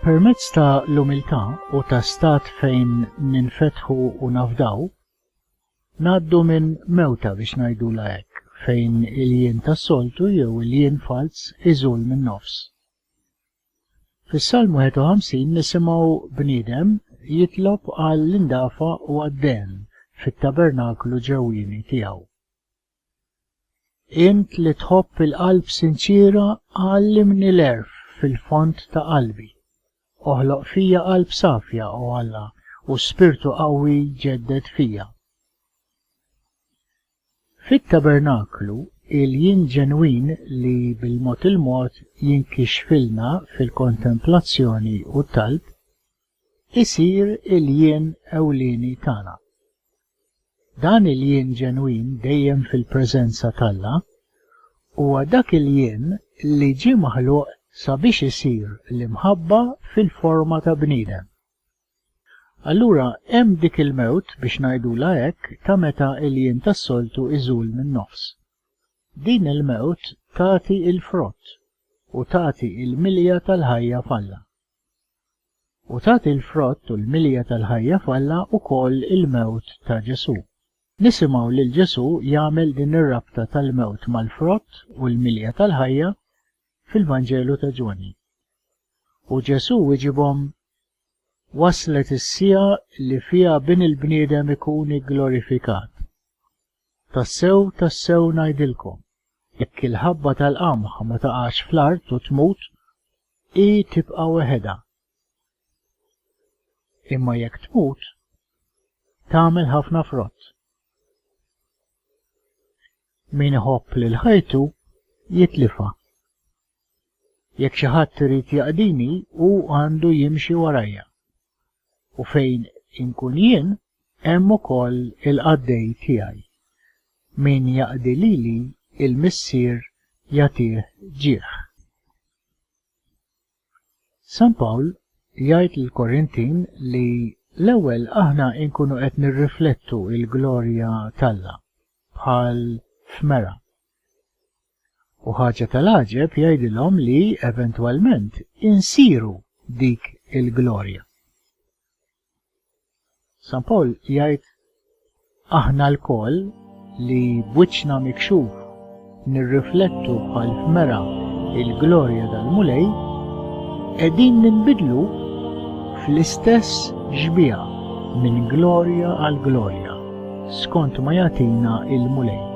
Permezz ta' l-umiltà u ta' stat fejn ninfetħu u nafdaw, ngħaddu minn mewta biex ngħidula hekk, fejn il-jien tas-soltu jew il-jien falz iżul min-nofs. Fis-Salm 51 nisimgħu bniedem jitlob għall-indafa u għad-dehn fit-tabernaklu ġewwieni tiegħu. Int li tħobb il-qalb sinċiera għallimni l-għerf fil-fond ta' qalbi. Oħloq fija qalb safja, o Alla, u spirtu qawwi ġedded fija. Fit-tabernaklu, il-jien ġenwin li bil-mod il-mod jinkixfilna fil-kontemplazzjoni u t-talb, isir il-jien ewlieni tagħna. Dan il-jien ġenwin dejjem fil-preżenza t'Alla huwa dak il-jien li ġie maħluq sabiex isir l-imħabba fil-forma ta' bniedem. Allura hemm dik il-mewt, biex ngħidulha hekk, ta' meta l-jiem tas-soltu jżul min-nofs. Din il-mewt tagħti l-frott u tagħti l-milja tal-ħajja f'Alla. U tagħti l-frott u l-milja tal-ħajja f'Alla wkoll il-mewt ta' Ġesù. Nisimgħu lil Ġesù jagħmel din ir-rabta tal-mewt mal-frott u l-milja tal-ħajja fil-Vanġelu ta' Ġwanni. U Ġesù wiġibhom, Waslet is-siegħa li fiha Bin il-bniedem ikun igglorifikat. Tassew, tassew ngħidilkom, jekk il-ħabba tal-qamħ ma taqax fl-art u tmut, hi tibqa' weħedha. Imma jekk tmut, tagħmel ħafna frott. Min iħobb lil ħajtu jitlifha. Jekk xi ħadd irid jaqdini hu għandu jimxi warajja. U fejn inkun jien hemm ukoll il-qaddej tiegħi. Min jaqdi lili il-Missier jagħtih ġieħ. San Pawl jgħid lill-Korintin li l-ewwel aħna nkunu qed nirriflettu l-glorja t'Alla, bħal f'mera. U ħaġa tal-għaġeb jgħidilhom li eventwalment insiru dik il-glorja. San Pawl jgħid, Aħna lkoll li b'wiċċna mikxuf nirriflettu bħal f'mera l-glorja tal-Mulej, qegħdin ninbidlu fl-istess xbieha minn glorja għal glorja, skont ma jagħtina l-Mulej.